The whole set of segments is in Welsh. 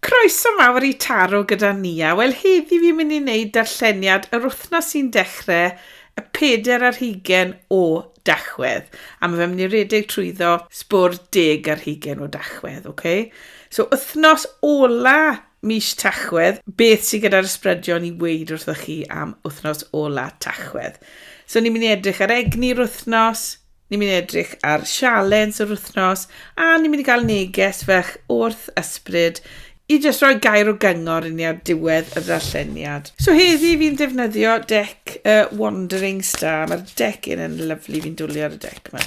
Croeso mawr i Taro gyda Nia. Wel heddi fi'n mynd i wneud darlleniad yr wythnos sy'n dechre y peder ar hugen o Dachwedd. A mae fe'n mynd i redeg trwyddo sbwr deg ar hugen o Dachwedd, ok? So wythnos ola mis Tachwedd, beth sy'n gyda'r ysbrydion i weid wrthoch chi am wythnos ola Tachwedd? So ni'n mynd i edrych ar egni'r wythnos, Ni'n mynd i edrych ar sialens yr wythnos a ni'n mynd i gael neges fach wrth ysbryd i jyst rhoi gair o gyngor i ni ar diwedd y ddarlleniad. So heddi fi'n defnyddio deck y uh, Wandering Star. Mae'r deck yn yn lyflu, fi'n dwlu ar y deck yma.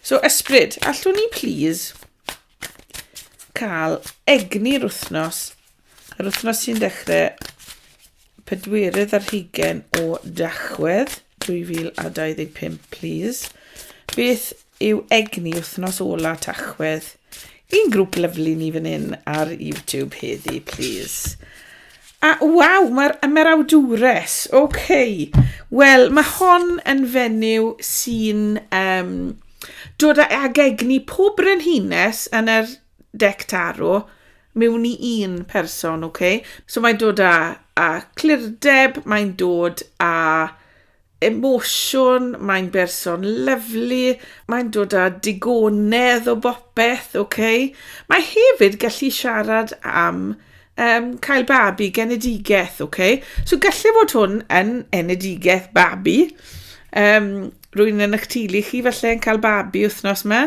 So ysbryd, allwn ni please cael egni'r wythnos, yr wythnos sy'n dechrau pedwerydd ar hugen o Dachwedd 2025, please. Beth yw egni wythnos ola Tachwedd? Un grŵp lyflu ni fan hyn ar YouTube heddi, please. A, waw, mae'r ymerawdwres, ok. Wel, mae hon yn fenyw sy'n um, dod ag egni pob brenhines yn yr dec tarw mewn i un person, ok? So mae'n dod â, â clirdeb, mae'n dod â emosiwn, mae'n berson lyflu, mae'n dod â digonedd o bopeth, oce? Okay? Mae hefyd gallu siarad am um, cael babi, genedigaeth, oce? Okay? So gallu fod hwn yn enedigaeth babi. Um, rwy'n yn eich teulu chi falle yn cael babi wythnos yma.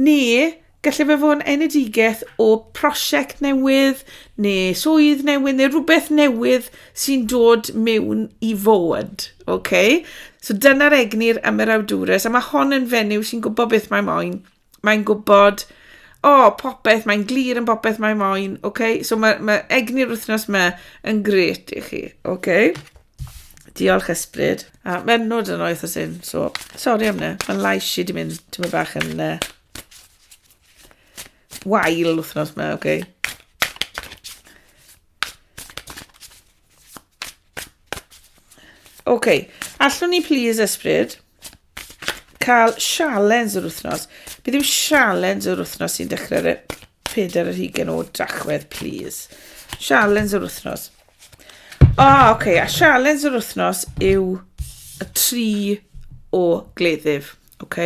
Neu Gallai fe fod yn enedigaeth o prosiect newydd neu swydd newydd neu rhywbeth newydd sy'n dod mewn i fod. Okay? So dyna'r egnir am yr awdures, a mae hon yn fenyw sy'n gwybod beth mae moyn. Mae'n gwybod, o, oh, popeth, mae'n glir yn popeth mae moyn. Okay? So mae, mae egni'r wythnos yma yn gret i chi. Okay? Diolch ysbryd. A mae'n nod yn oeth o syn, so, sori am ne. Mae'n lais i di mynd, ti'n mynd bach yn... Uh, wael wythnos ma, oce. Okay. Oce, okay. allwn ni please ysbryd cael sialens yr wythnos. Bydd yw sialens yr wythnos sy'n dechrau'r e- pedair yr hugen o drachwedd, please. Sialens yr wythnos. O, oh, oce, okay. a sialens yr wythnos yw y tri o gleddyf. Ok.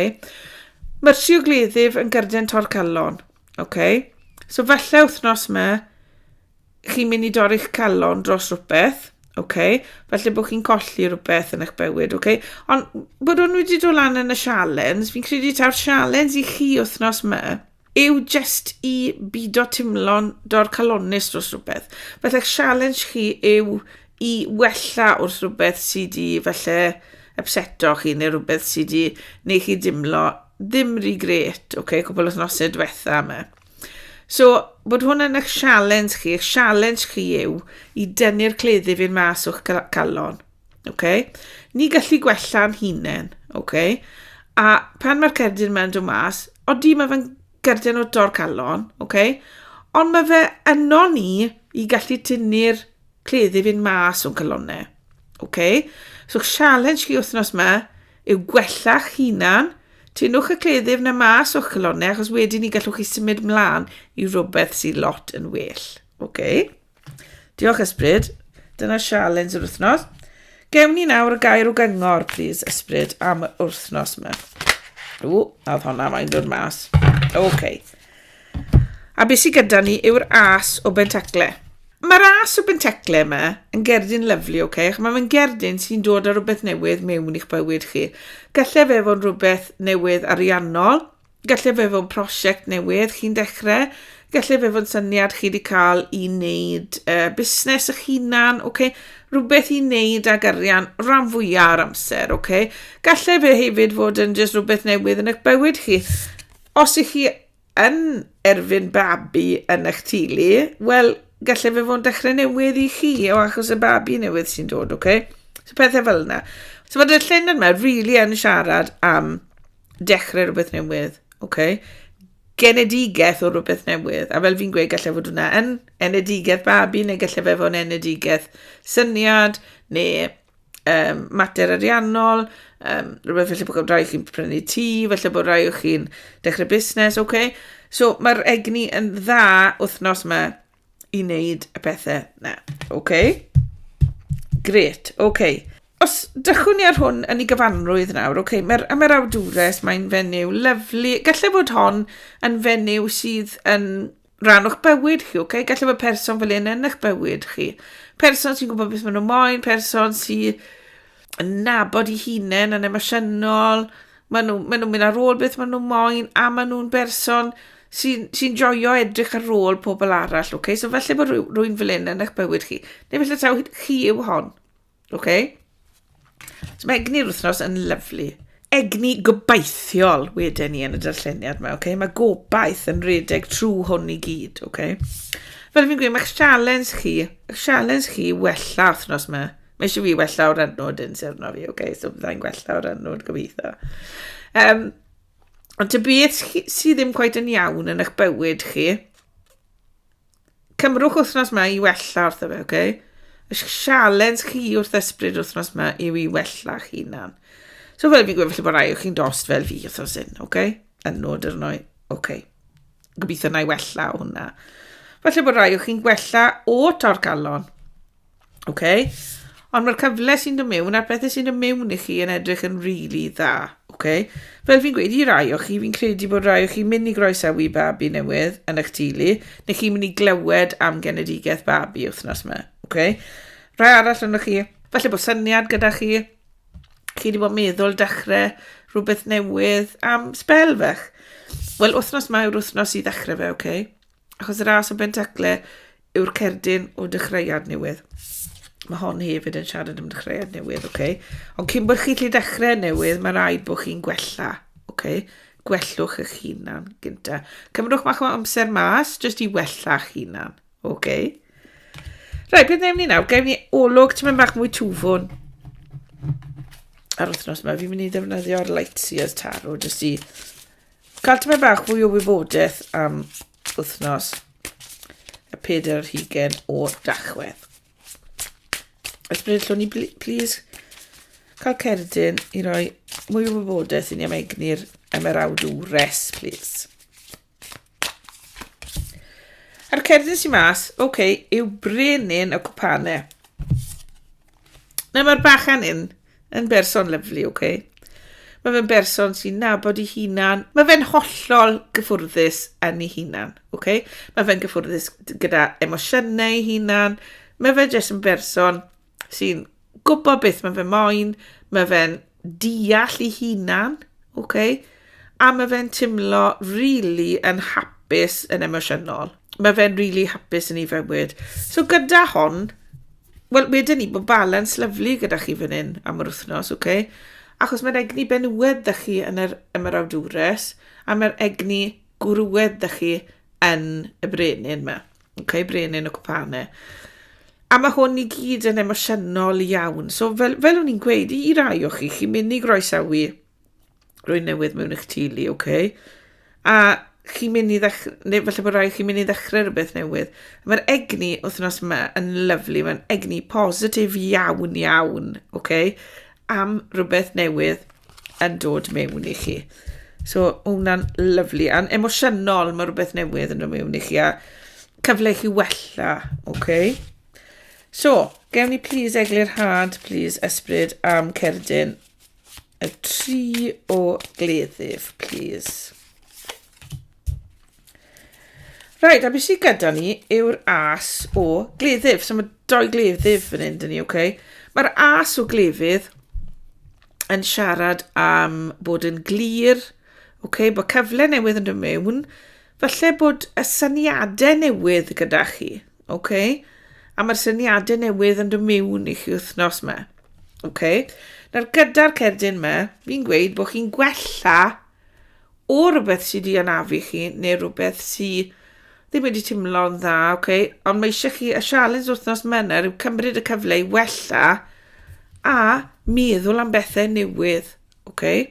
Mae'r siwgleddyf yn gyrden torcallon. Ok. So falle wythnos yma, chi'n mynd i dorri'ch calon dros rhywbeth. Ok. Falle bod chi'n colli rhywbeth yn eich bywyd. Ok. Ond bod hwn wedi dod lan yn y sialens, fi'n credu taw'r sialens i chi wythnos yma, yw jyst i bido timlo'n dorcalonnus dros rhywbeth. Felly challenge chi yw i wella wrth rhywbeth sydd wedi falle upseto chi neu rhywbeth sydd wedi neu chi dimlo ddim rhy gret, okay, cwbl o nosau diwetha yma. So, bod hwn yn eich sialens chi, eich sialens chi yw i dynnu'r cleddi fi'n mas o'ch calon. Okay? Ni gallu gwella'n hunain. Okay? A pan mae'r cerdyn yma'n dod mas, oeddi mae fe'n gerdyn o dor calon, okay? ond mae fe yno ni i gallu tynnu'r cleddi fynd mas o'n calonau. Okay? So challenge chi wythnos yma yw gwella'ch hunan, tynwch y cleddyf na mas o'ch calonau achos wedyn ni gallwch chi symud mlaen i rhywbeth sy'n lot yn well. Okay? Diolch Ysbryd. Dyna sialens yr wythnos. Gewn ni nawr y gair o gyngor, please, Ysbryd, am yr wythnos yma. O, a oedd honna mae'n dod mas. Oce. Okay. A beth sy'n gyda ni yw'r as o bentacle. Mae'r as o bentacle yma yn gerdyn lyflu, oce? Okay? Mae fe'n gerdyn sy'n dod â rhywbeth newydd mewn i'ch bywyd chi. Gallai fe fod yn rhywbeth newydd ariannol, Gallai fe fod yn prosiect newydd chi'n dechrau, gallai fe fod yn syniad chi wedi cael i wneud uh, busnes eich hunan, okay? rhywbeth i wneud ag arian rhan fwyaf ar amser. Okay? Gallai fe hefyd fod yn just rhywbeth newydd yn eich bywyd chi. Os ych chi yn erfyn babi yn eich tulu, wel, gallai fe fod yn dechrau newydd i chi, o achos y babi newydd sy'n dod, oce? Okay? So pethau fel yna. So fod y llun yma, rili really yn siarad am dechrau rhywbeth newydd, oce? Okay? Genedigaeth o rhywbeth newydd. A fel fi'n gweud, gallai fod hwnna yn enedigaeth babi, neu gallai fe fod yn enedigaeth syniad, neu um, mater ariannol, um, rhywbeth felly bod rhai chi'n prynu tŷ, felly bod rhai o chi'n dechrau busnes, oce? Okay? So mae'r egni yn dda wythnos yma i wneud y pethau na. OK? Gret, OK. Os dychwn ni ar hwn yn ei gyfanrwydd nawr, OK, mae'r am yr awdures, mae'n fenyw lyflu. Gallai fod hon yn fenyw sydd yn rhan o'ch bywyd chi, OK? Gallai fod person fel un yn eich bywyd chi. Person sy'n gwybod beth maen nhw'n moyn, person sy'n yn nabod i hunain yn emosiynol, maen nhw'n ma nhw mynd ar ôl beth maen nhw'n moyn, a maen nhw'n berson sy'n sy joio edrych ar ôl pobl arall, okay? So felly bod rhywun fel un yn eich bywyd chi, neu felly taw chi yw hon, okay? So mae egni'r wythnos yn lyflu. egni gobeithiol wedyn ni yn y darlleniad yma, okay? mae gobaith yn redeg trwy hwn i gyd. Okay? Fel fi'n gweud, mae'ch sialens chi, eich sialens chi wella wythnos yma. Mae eisiau fi wella o'r anwyd yn syrno fi, okay? so byddai'n gwella o'r anwyd gobeithio. Um, ond ty beth sydd ddim gwaith yn iawn yn eich bywyd chi, Cymrwch wythnos ma i wella wrth y fe, oce? Y sialens chi wrth ysbryd wythnos ma yw i wella chi hunan. So fel fi'n gwybod, felly bod rai o chi'n dost fel fi wrth oes un, oce? Yn nod yr noi, oce. Gobeithio na i wella hwnna. Felly bod rai o chi'n gwella o torcalon. Ok? Ond mae'r cyfle sy'n dod mewn a'r pethau sy'n dod mewn i chi yn edrych yn rili really dda. Ok? Fel fi'n gweud i rai o chi, fi'n credu bod rai o chi mynd i groesawu babi newydd yn eich tulu, neu chi'n mynd i glywed am genedigaeth babi wythnos yma. Ok? Rai arall yno chi, falle bod syniad gyda chi, chi wedi bod meddwl dechrau rhywbeth newydd am spel fech. Wel, wythnos yma yw'r wythnos i ddechrau fe, ok? Achos y ras o Bentacle yw'r cerdyn o dechreuad newydd. Mae hon hefyd yn siarad am dechreuad newydd, oce? Okay? Ond cyn bod chi'n lle dechrau newydd, mae rhaid bod chi'n gwella, oce? Okay? Gwellwch eich hunan gynta. Cymrwch mach o amser mas, jyst i wella eich hunan, oce? Okay? Rai, beth newn ni nawr? Gael ni olwg ti'n mynd bach mwy tŵfwn. Ar wythnos yma, fi'n mynd i ddefnyddio'r Lightseers Tarot, jyst i Cael tipyn bach fwy o wybodaeth am wythnos y peder yr hugen o dachwedd. Ysbryd llwn i, please, cael cerdyn i roi mwy o wybodaeth i ni am egni'r emerawd yw res, please. A'r cerdyn sy'n mas, oce, okay, yw brenin y cwpane. Nawr mae'r bachan yn Yn berson lyflu, oce. Okay. Mae fe'n berson sy'n nabod ei hunan. Mae fe'n hollol gyffwrddus yn ei hunan, oce. Okay. Mae fe'n gyffwrddus gyda emosiynau ei hunan. Mae fe jyst yn berson sy'n gwybod beth mae fe moyn. Mae fe'n deall ei hunan, oce. Okay. A mae fe'n timlo rili yn hapus yn emosiynol. Mae fe'n rili hapus yn ei fywyd. So gyda hon, wel, wedyn ni, bod balans lyflu gyda chi fan hyn am yr wythnos, oce? Okay? Achos mae'r egni benywed da chi yn yr ymarawdwres, a mae'r egni gwrwed da chi yn y brenin yma. Oce, okay? brenin y cwpane. A mae hwn i gyd yn emosiynol iawn. So fel, fel o'n i'n gweud, i rai o chi, chi'n mynd i groesawu Rwy'n newydd mewn eich tulu, oce? Okay? A chi'n mynd i ddechrau, neu falle bod rhaid chi'n mynd i ddechrau rhywbeth newydd. Mae'r egni wythnos yma yn lyflu, mae'n egni positif iawn iawn, oce? Okay? Am rhywbeth newydd yn dod mewn i chi. So, mae hwnna'n lyflu. A'n emosiynol, mae rhywbeth newydd yn dod mewn i chi. A cyfle i chi wella, oce? Okay? So, gewn ni please eglurhad, please ysbryd am cerdyn y tri o gleddyf, please. Right, a beth sydd gyda ni yw'r as o gleddyf. So mae doi gleddyf fan hyn, dyn ni, oce? Okay? Mae'r as o gleddyf yn siarad am bod yn glir, oce, okay? bod cyfle newydd yn dod mewn, Falle bod y syniadau newydd gyda chi, oce? Okay? A mae'r syniadau newydd yn dod mewn i chi wythnos yma. Oce? Okay? Nawr gyda'r cerdyn yma, fi'n gweud bod chi'n gwella o rhywbeth sydd wedi anafu chi neu rhywbeth sydd ddim wedi teimlo'n dda, oce? Okay? Ond mae eisiau chi, y sialens wythnos yma yw cymryd y cyfle i wella a meddwl am bethau newydd, oce? Okay?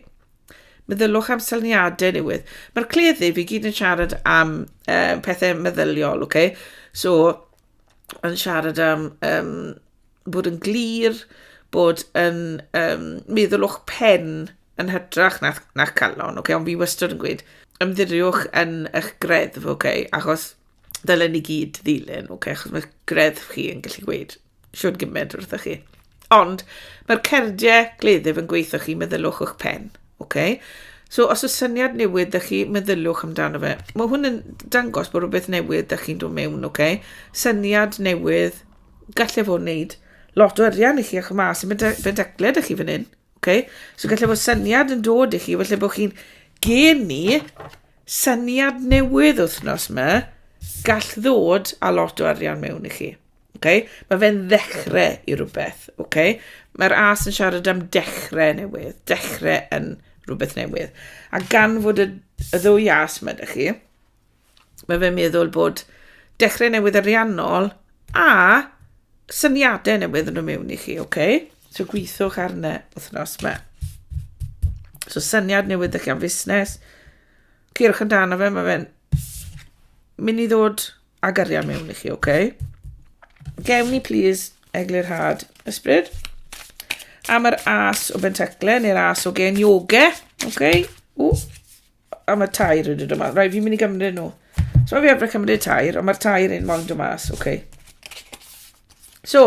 Meddyliwch am syniadau newydd. Mae'r cleddyf i gyd yn siarad am uh, pethau meddyliol, okay? So, yn siarad am um, bod yn glir, bod yn um, meddwl o'ch pen yn hytrach na'ch, na calon, okay? ond fi wastad yn gweud, ymddiriwch yn eich greddf, okay? achos dylen ni gyd ddilyn, okay? achos mae greddf chi yn gallu gweud siwr gymaint wrthych chi. Ond mae'r cerdiau gleddyf yn gweithio chi, meddylwch o'ch pen. Okay? So os y syniad newydd ydych chi, meddylwch amdano fe. Mae hwn yn dangos bod rhywbeth newydd ydych chi'n dod mewn, okay? syniad newydd, gallai fod wneud lot o arian i chi o'ch mas yn bedecled ydych chi fan hyn. Okay? So gallai fod syniad yn dod i chi, felly bod chi'n geni syniad newydd wythnos yma, gall ddod a lot o arian mewn i chi. Oce? Mae fe'n ddechrau i rhywbeth, oce? Mae'r as yn siarad am dechrau newydd, dechrau yn rhywbeth newydd. A gan fod y, y ddwy as mae ydych chi, mae fe'n meddwl bod dechrau newydd ariannol a syniadau newydd yn y mewn i chi, oce? So gweithwch arno wythnos yma. So syniad newydd ydych chi am fusnes. Cyrwch amdano fe, mae fe'n mynd i ddod Ag arian mewn i chi, oce? Okay? Gewn ni, please, eglurhad ysbryd. Am yr as o bentacle, neu'r as o gen yoga, oce? Okay? O, am y tair yn dod yma. Rai, fi'n mynd i gymryd nhw. So fi efo'r cymryd tair, ond mae'r tair yn moyn dod mas, oce. Okay. So,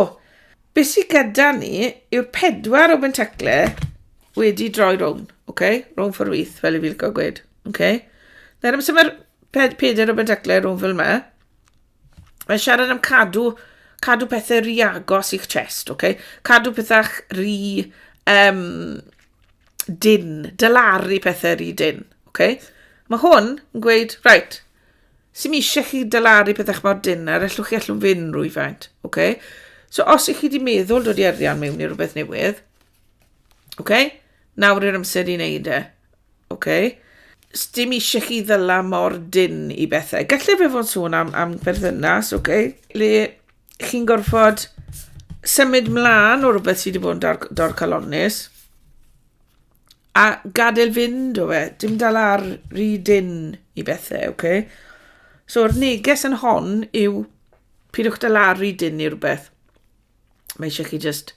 beth sydd gyda ni yw'r pedwar o bentacle wedi droi rown, oce? Okay? Rown ffordd wyth, fel i fi'n cael gweud. Ok. Nawr amser mae'r pe- pedair o Bendacle Row fel yma. Mae'n siarad am cadw, cadw pethau rhy agos i'ch chest, ok? Cadw pethau rhy um, dyn, dylaru pethau rhy dyn, ok? Mae hwn yn gweud, right, sy'n eisiau chi dylaru pethau mor dyn ar allwch chi allwn fyn rwyfaint, ok? So os ych chi wedi meddwl dod i arian mewn i rhywbeth newydd, ok? Nawr yw'r amser i wneud e. Ok. Sdim eisiau chi ddyla mor dyn i bethau. Gallai fe fod yn sôn am, am berthynas, ok? Le chi'n gorfod symud mlaen o rhywbeth sydd wedi bod yn dor, dorcalonnus a gadael fynd o fe. Dim dal ar rhy dyn i bethau, ok? So'r neges yn hon yw pidwch dal ar rhy dyn i rhywbeth. mae eisiau chi just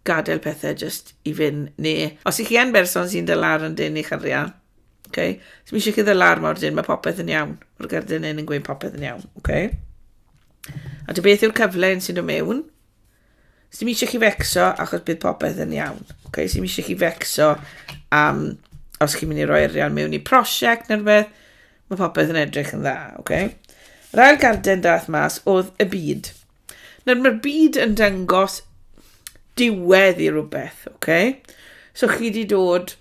gadael pethau just i fynd, neu os ych chi yn berson sy'n dy lar yn dyn i chyrria, okay? so mae eisiau chi dy lar mor dyn, mae popeth yn iawn, mae'r gerdyn yn yn gweud popeth yn iawn. Okay? A dy beth yw'r cyfle yn sy'n dod mewn, so mae eisiau chi fecso achos bydd popeth yn iawn. Okay? So mae eisiau chi fecso am os chi'n mynd i roi arian mewn i prosiect neu rhywbeth, mae popeth yn edrych yn dda. Okay? Yr ail garden dath mas oedd y byd. Nawr, mae'r byd yn dangos diwedd i rhywbeth, oce? Okay? So chi wedi dod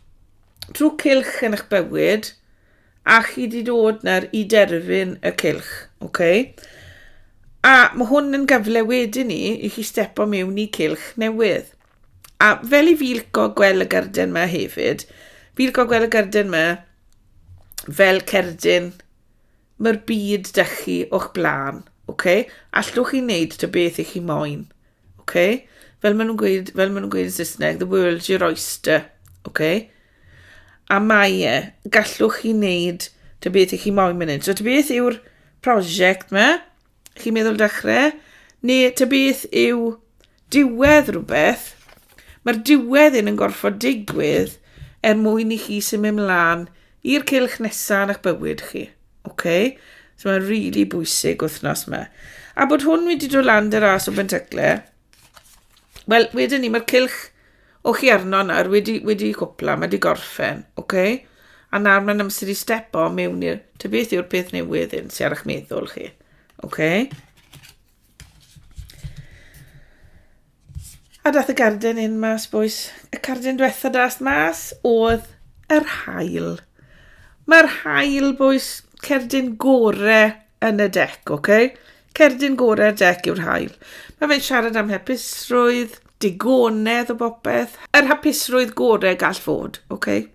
trwy cilch yn eich bywyd, a chi wedi dod nawr i derfyn y cilch, oce? Okay? A mae hwn yn gyfle wedyn ni i chi stepo mewn i cilch newydd. A fel i fi lico gweld y garden yma hefyd, fi lico gweld y garden yma fel cerdyn Mae'r byd 'da chi o'ch blaen, ok? Allwch chi wneud ta beth i chi moyn, ok? Fel maen nhw'n gweud, fel maen nhw'n gweud yn Saesneg, the world's your oyster, ok? A mae e, gallwch chi wneud ta beth i chi moyn mynd hyn. So ta beth yw'r prosiect 'ma? Chi'n meddwl dechrau? Neu ta beth yw diwedd rhywbeth? Mae'r diwedd un yn gorfod digwydd er mwyn i chi symud ymlaen i'r cylch nesaf yn eich bywyd chi. Okay? So mae'n rili really bwysig wythnos yma. A bod hwn wedi dod lan dy ras o Bentecler, wel, wedyn ni, mae'r cylch O chi arno nawr, wedi, wedi cwpla, mae wedi gorffen, oce? Okay? A nawr mae'n amser i stepo mewn i'r... Ta beth yw'r peth newydd hyn sy'n ar eich meddwl chi, oce? Okay? A dath y garden un mas, boys. Y carden diwetha dath mas oedd yr hael. Mae'r hael, boys, cerdyn gore yn y dec, oce? Okay? Cerdyn gorau'r dec yw'r haul. Mae fe'n siarad am hapusrwydd, digonedd o bopeth. Yr hapusrwydd gorau gall fod, oce? Okay?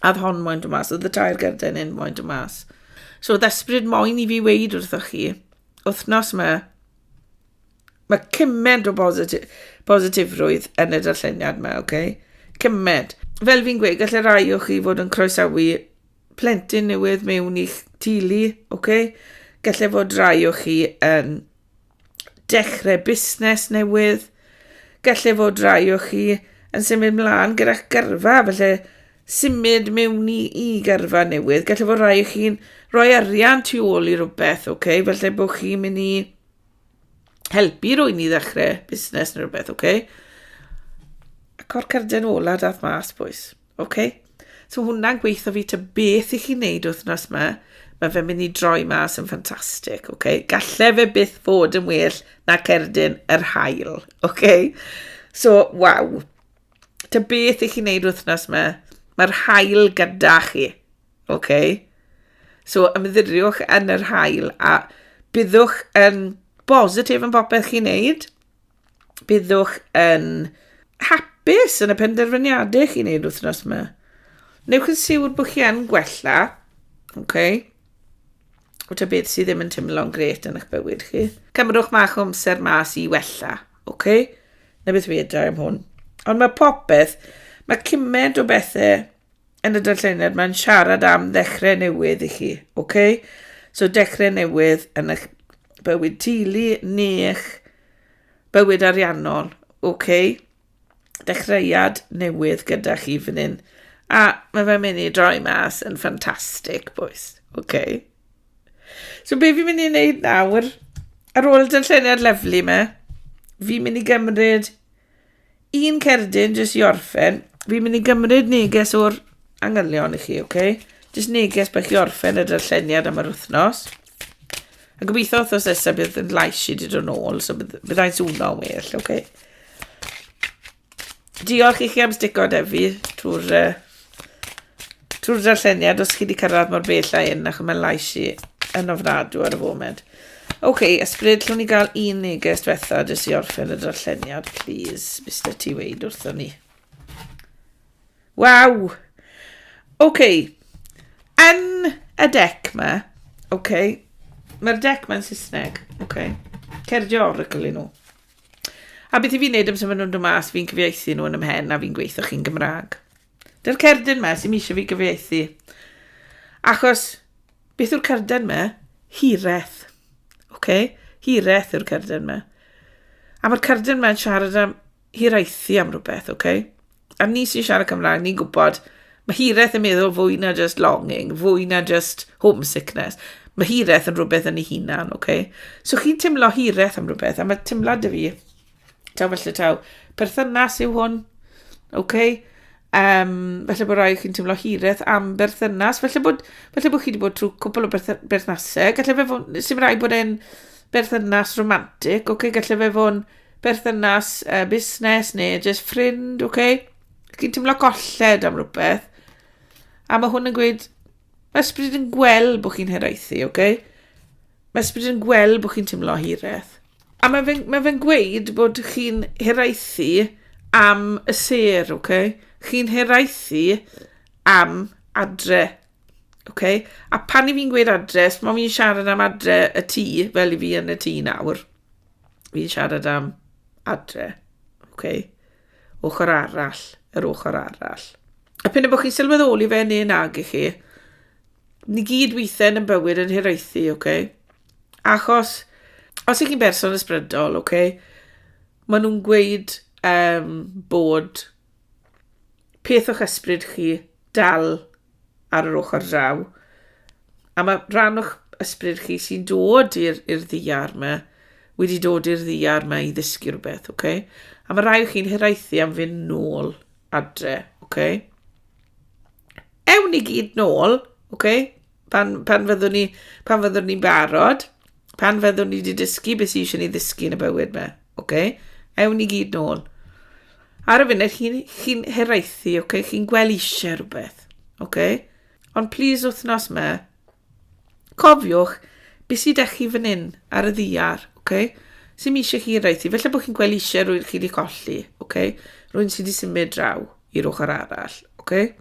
Add hon moyn dod mas, oedd y tair gerden hyn moyn dod mas. So oedd ysbryd moyn i fi weid wrthoch chi, wythnos yma, mae cymaint o bositi bositifrwydd yn y darlleniad yma, oce? Okay? Cymaint. Fel fi'n gweud, gallai rai o chi fod yn croesawu plentyn newydd mewn i'ch teulu, oce? Gallai fod rai o chi yn dechrau busnes newydd. Gallai fod rai o chi yn symud mlaen gyda'ch gyrfa, felly symud mewn i, i gyrfa newydd. Gallai fod rai o chi'n rhoi arian tu ôl i rhywbeth, oce? Felly bod chi'n mynd i helpu rwy'n i ddechrau busnes neu rhywbeth, oce? Okay? Y cor carden ola dath mas, boys. Ok? So hwnna'n gweithio fi ta beth i chi wneud wythnos yma, mae fe'n mynd i droi mas yn ffantastig, ok? Galle fe byth fod yn well na cerdyn yr hael, ok? So, waw. Ta beth i chi wneud wythnos yma, mae'r hael gyda chi, ok? So, ymddiriwch yn yr hael a byddwch yn bositif yn popeth chi'n neud, byddwch yn hapus yn y penderfyniadau chi'n neud wythnos yma. Newch yn siwr bod chi yn gwella, oce? Okay? Wta beth sydd ddim yn teimlo'n gret yn eich bywyd chi. Cymrwch mach o amser mas i wella, oce? Okay? Na beth fi edrych am hwn. Ond mae popeth, mae cymaint o bethau yn y darlleniad mae'n siarad am ddechrau newydd i chi, oce? Okay? So dechrau newydd yn eich bywyd teulu neu eich Bywyd ariannol, ok. Dechreuad newydd gyda chi fan hyn. A mae fe'n mynd i droi mas yn ffantastig, boys. Ok. So be fi'n mynd i wneud nawr, ar ôl y dyllyniad lyflu me, fi'n mynd i gymryd Un cerdyn, jyst i orffen. Fi'n mynd i gymryd neges o'r angylion i chi, oce? Okay? Jyst neges bych i orffen y darlleniad am yr wythnos. A gobeithio wythnos nesaf bydd yn lais i dod yn ôl, so bydd, byddai'n swno yn well, oce? Okay? Diolch i chi am stico defi trwy'r uh, Trwy'r darlleniad, os chi wedi cyrraedd mor bell â hyn, ac mae'n lais i yn ofnadw ar y foment. Oce, okay, ysbryd, llwn ni gael un neges diwetha jyst i orffen y darlleniad, please, Mr T. Wade wrthon ni. Waw! Oce, okay. yn y dec ma, oce, okay. mae'r dec mae'n Saesneg, oce, okay. cerdio oracle nhw. A beth i fi'n neud amser maen nhw'n dod mas, fi'n cyfieithu nhw yn ymhen a fi'n gweithio chi'n Gymraeg. Dy'r cerdyn me sy'n eisiau fi gyfieithu. Achos, beth yw'r cerdyn me? Hireth. Oce? Okay? Hireth yw'r cerdyn me. A mae'r cerdyn me'n siarad am hiraethu am rhywbeth, oce? Okay? A ni sy'n siarad Cymraeg, ni'n gwybod, mae hireth yn meddwl fwy na just longing, fwy na just homesickness. Mae hireth yn rhywbeth yn ei hunan, oce? Okay? So chi'n teimlo hireth am rhywbeth, a mae teimlad y fi Taw felly taw. Perthynas yw hwn. Oce? Okay? Um, felly bod rhai chi'n teimlo hireth am berthynas. Felly bod, felly bod chi wedi bod trwy cwpl o berthnasau. Felly fe fod, sy'n rhaid bod e'n berthynas romantic. Oce? Okay? Felly fe fod berthynas uh, busnes neu just ffrind. Oce? Okay? Chi'n teimlo golled am rhywbeth. A mae hwn yn gweud, mae ysbryd yn gweld bod chi'n heraethu. Oce? Okay? Mae ysbryd yn gweld bod chi'n teimlo hiraeth. A mae fe'n mae fe gweud bod chi'n hiraethu am y ser, okay? Chi'n hiraethu am adre. Okay? A pan i fi'n gweud adre, os mae fi'n siarad am adre y tŷ, fel i fi yn y tŷ nawr, fi'n siarad am adre. Okay? Ochr arall, yr ochr arall. A pyn bod chi'n sylweddoli fe neu nag i chi, ni gyd weithiau'n yn bywyd yn hiraethu, oce? Okay? Achos, os ych chi'n berson ysbrydol, oce, okay, maen nhw'n gweud um, bod peth o'ch ysbryd chi dal ar yr ochr draw, a mae rhan o'ch ysbryd chi sy'n dod i'r ddiar yma, wedi dod i'r ddiar yma i ddysgu rhywbeth, oce? Okay? A mae rhai o chi'n hiraethu am fynd nôl adre, oce? Okay? Ewn ni gyd nôl, oce, okay? pan, pan fyddwn ni, pan fyddwn ni'n barod, pan fyddwn ni wedi dysgu beth sy'n eisiau ni ddysgu yn y bywyd me, oce? Okay? Ewn ni gyd nôl. Ar y funud, chi'n chi heraethu, oce? Okay? Chi'n gweld eisiau rhywbeth, oce? Okay? Ond please wythnos me, Cofiwch, beth sydd â chi fan hyn ar y ddiar, okay? sy'n mi eisiau chi yn rhaid i. Felly bod chi'n gweld eisiau rwy'n chi wedi colli, okay? rwy'n sydd wedi symud draw i'r ochr arall. Okay?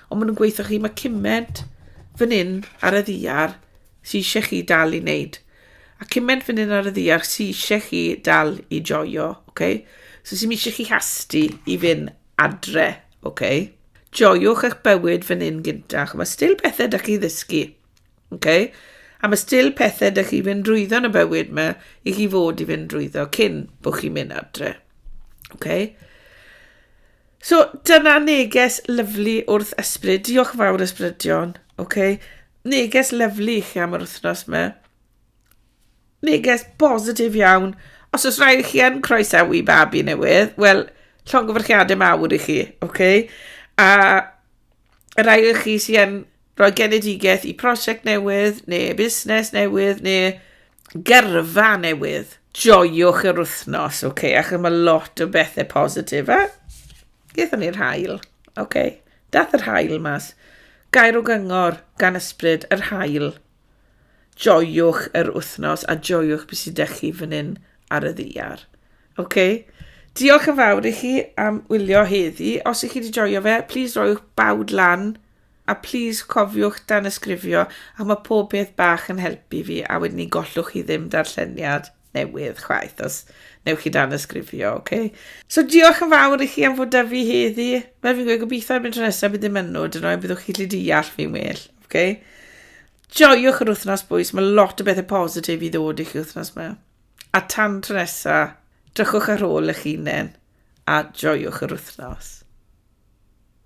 Ond maen nhw'n gweithio chi, mae cymaint fan hyn ar y ddiar sy'n eisiau chi dal i wneud. A cymaint fan hyn ar y ddiar sy'n eisiau chi dal i joio. Okay? So sy'n eisiau chi hasti i fynd adre. OK. Joiwch eich bywyd fan hyn gynta. Mae still pethau da chi ddysgu. OK. A mae still pethau da chi fynd drwyddo yn y bywyd yma i chi fod i fynd drwyddo cyn bod chi'n mynd adre. OK. So, dyna neges lyflu wrth ysbryd. Diolch fawr ysbrydion. OK. Neges lyflu i chi am yr wythnos yma. Neges bositif iawn. Os oes rhaid i chi yn croesawu babi newydd, wel, llongyfarchiadau mawr i chi, oce? Okay? A y rhai o chi sy'n yn rhoi genedigaeth i prosiect newydd, neu busnes newydd, neu gyrfa newydd, joiwch yr wythnos, oce? Okay? Achos mae lot o bethau positif, a gaethon ni'r hael, oce? Okay? Dath yr hael mas. Gair o gyngor gan ysbryd, yr hael. Joiwch yr wythnos a joiwch beth sy'n dech chi fan hyn ar y ddiar. OK? Diolch yn fawr i chi am wylio heddi. Os ych chi wedi joio fe, plis roiwch bawd lan a plis cofiwch dan ysgrifio a mae pob peth bach yn helpu fi a wedyn ni gollwch chi ddim darlleniad. newydd chwaith, os newch chi dan ysgrifio, oce? Okay? So diolch yn fawr i chi am fod da fi heddi. Fel fi'n gweud, gobeithio erbyn tro nesaf bydd ddim yn nhw, dyn nhw, byddwch chi lli deall fi'n well, oce? Okay? Joiwch yr wythnos bwys, mae lot o bethau positif i ddod i chi wythnos yma. A tan tro nesa, drychwch ar ôl eich hunain a joiwch yr wythnos.